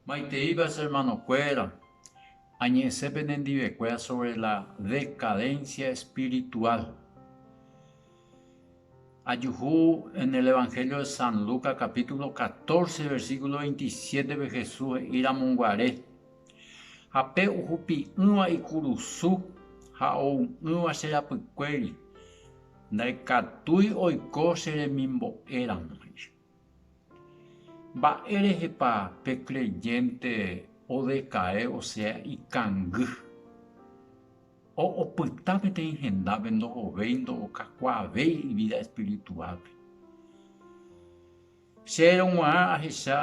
Maiteíva che ermanokuéra, añe'ẽse penendivekuéra sóvre la dekadénsia espirituál. Ajuhu en el Evangelio de San Lucas kapítulo catorce versículo veintisiétepe Jesús he'iramoguare, Ha pe ohupi'ỹva ikurusu ha ou'ỹva che rapykuéri, ndaikatúi oiko che remimbo'éramo. Mba'érehepa pe creyénte odeka'e osea ikangy? O'opyta peteĩ hendápe ndohovéi ndo'okakuaavéi ivída espirituálpe. Chéverõ g̃uarã ahecha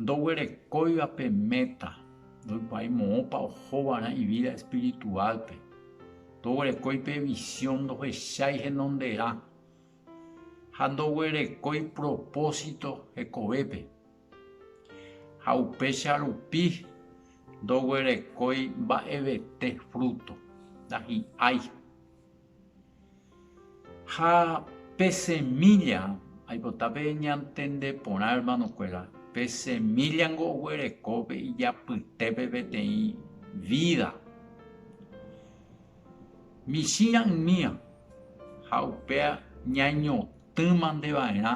ndoguerekóiva pe méta, ndoikuaái moõpa ohova'erã ivída espirituálpe, ndoguerekói pe visión, ndohechái henonderã. ha ndoguerekói propósito hekovépe, ha upéicha rupi ndoguerekói mba'evete fruto, ndahi'ái. Ha pe semílla, aipota pe ñantende porã, ermanokuéra, pe semíllango oguereko pe ijapytépe peteĩ vída, Michĩrã ymía ha upéa ñañotỹmandeva'erã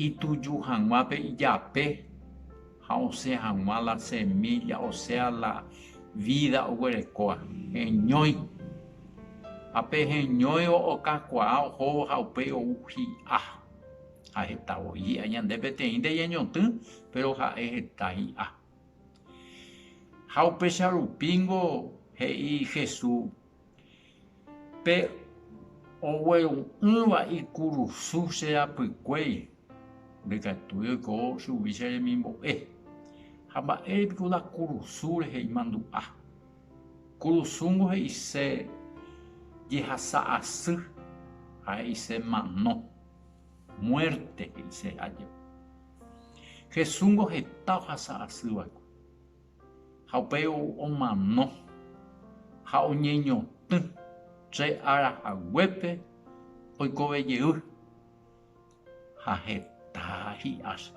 ituju hag̃uápe ijape ha osẽ hag̃ua la semílla, osea la vída oguerekóva, heñói. Ha pe heñóivo okakuaa ohóvo ha upéi ou hi'a. Ha heta voi hi'a ñande peteĩ ndeñañotỹ, péro ha'e heta hi'a. Ha upéicha rupíngo he'i Jesús pe ogueru'ỹva ikurusu che rapykuéri, ndaikatúi oiko chugui che remimbo'e. Ha mba'ére piko la kurusu rehe imandu'a? Kurusúngo he'ise jehasa asy ha he'ise mano. Muerte he'ise aja. Jesúsngo heta ohasa asy va'ekue. Ha upéi omano ha oñeñotỹ che ára haguépe oikove jey. Ha heta hi'áse.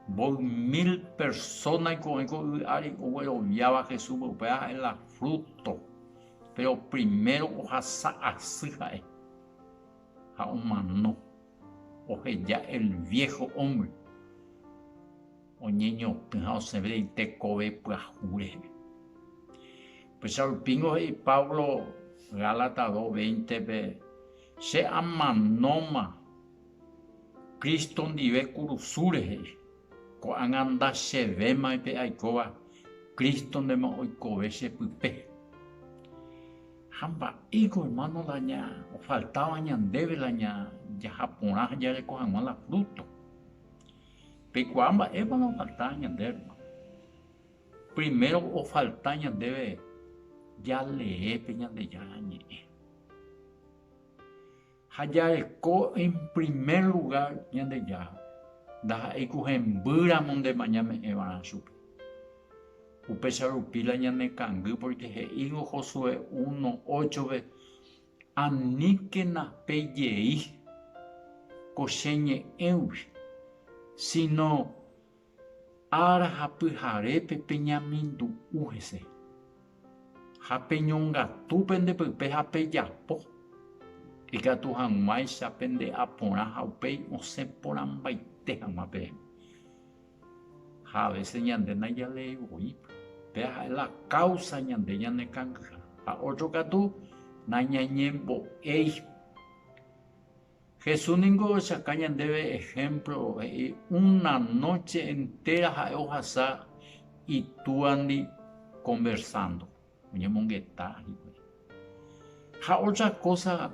Voi mil persónaiko oĩ ko yvy ári ogueroviáva Jesúspe. Upéva ha'e la fruto. Péro primero ohasa asy ha'e. Ha omano, oheja el viejo hombre, oñeñotỹ ha osẽve rei tekove pyahu reheve. Upéicha rupíngo he'i Pablo Gálatas 2, 20-pe, Che amanóma Cristo ndive kurusu rehe, ko'ág̃a ndachevéma pe aikóva Cristo-ndema oikove che pype. Ha mba'éiko, hermano, la ñafaltáva ñandéve la jaha porã ha jareko hag̃ua la fruto? Peikuaa mba'épa la ofalta ñande, hermano. Primero ofalta ñandéve jalee pe Ñandejára Ñe'ẽ. Ha jareko en primer lugar Ñandejára, ndaha'éi ku hembýramo ndemañame'ẽvarã chupe. Upéicha rupi la ñanekangy porque he'íngo Josué uno óchove, Aníkena pe jey ko che ñe'ẽgui, sino Ára ha pyharépe peñamindu'u hese, ha peñongatu pende pype ha pejapo ikatu hag̃uáicha pende aporã ha upéi osẽ porãmbaite hag̃ua peẽme. Ha a vése ñande najaléi voi, péa ha'e la káusa ñande ñanekangy ha ótro katu nañañembo'éi. Jesús ningo ohechauka ñandéve ehémplo, he'i, Una nóche entéra ha'e ohasa Itúandi konversándo, oñemongeta hikuái. Ha ótra kósa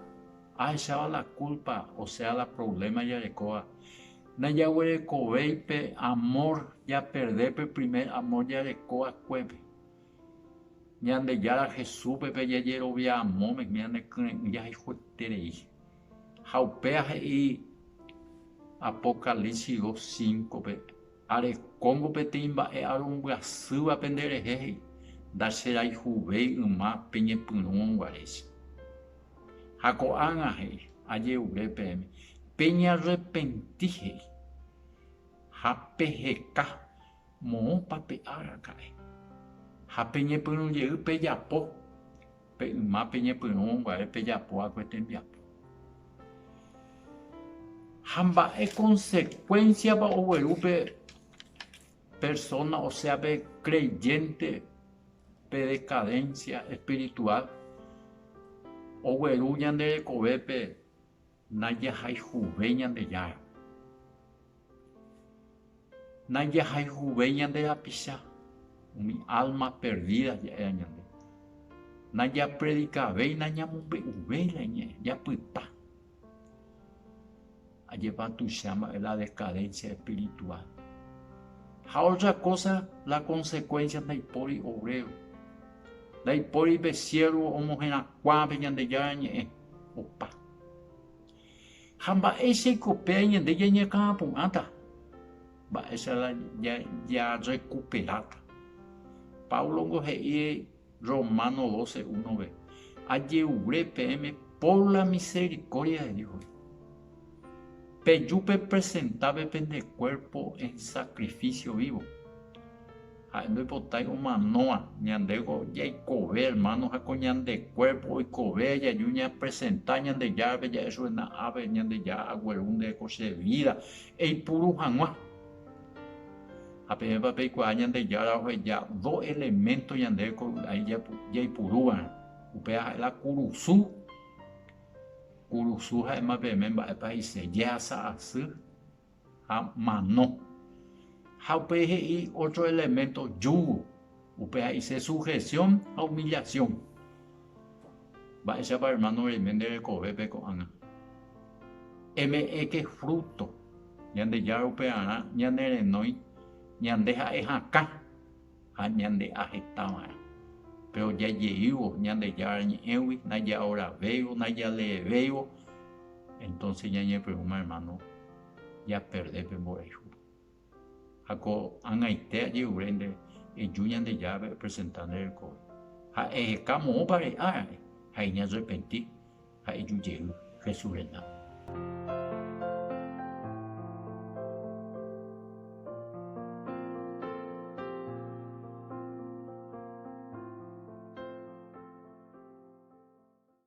ahecháva la kúlpa, osea la provléma jarekóva, najaguerekovéi pe amór japerde pe primer amór jareko va'ekuépe. Ñandejára Jesúspe pe jajerovia amóme, ñanekyre'ỹ jahayhueterei. Ha upéva he'i Apocalipsis dos cinco-pe, Arekóngo peteĩ mba'e arombyasýva pende rehe, he'i, ndacherayhuvéi yma peñepyrũrõ guaréicha. Ha ko'ág̃a he'i, Aje'ure peẽme, peñarrepenti, he'i, ha peheka. Moõpa pe araka'e ha peñepyrũ jey pejapo pe yma peñepyrũvo mbuave pejapo va'ekue tembiapo. Ha mba'e consecuencia-pa ogueru pe persona osea pe creyente pe decadencia espiritual ogueru ñande rekovépe Najahayhuve Ñandejára. Najahayhuve ñande rapicha, umi álma perdída ja'éva ñande. Najapredikavéi, nañamombe'uvéi la iñe'ẽ, japyta. Ajépa tuicha mba'e la dekadensia espiritual. Ha ótra kósa, la konsekuénsia ndaipóri oréro, ndaipóri pe siervo omoherakuãve Ñandejára Ñe'ẽ. opa. Ha mba'éichaiko péa ñande jañakãapu'ãta, mba'éicha la jarekuperáta. Páblongo he'i Románo 12, 1-ve, Aje'ure peẽme pór la miserikórdia de Dios. Peju pepresentápe pende kuérpo en sakrifísio vívo. Ha'e ndoipotái omanóva. Ñandéko jaikove ermáno ha ko ñande kuérpo oikove jaju ñapresenta Ñandejárape ja'e chupe na'ápe, Ñandejára agueru nde ko che vída eipuru hag̃ua. Ha peẽpa peikuaa Ñandejára oheja do eleménto ñandéve ko vy'ái jaipuru va'erã. Upéva ha'e la kurusu. Kurusu ha'éma peẽme mba'épa he'ise jehasa asy. ha mano. Ha upéi he'i ótro eleménto, yugo. Upe ha'ise sujesión ha umillasión. Mba'éichapa ermáno reime nde rekovépe ko'ág̃a? Eme'ẽke frúto Ñandejára upearã ñanerenói ñande ha'e hakã. ha ñande'ahetava'erã. Péro jajeývo Ñandejára Ñe'ẽgui, najaoravéivo, najaleevéivo, entónse ñañepyrũma ermáno japerde pe mborayhúpe. Ha ko ag̃aite ajerure nde, eju Ñandejárape epresenta nde rekove, ha eheka moõpa re'árare ha eñarrepenti. ha ijujey Jesús renda.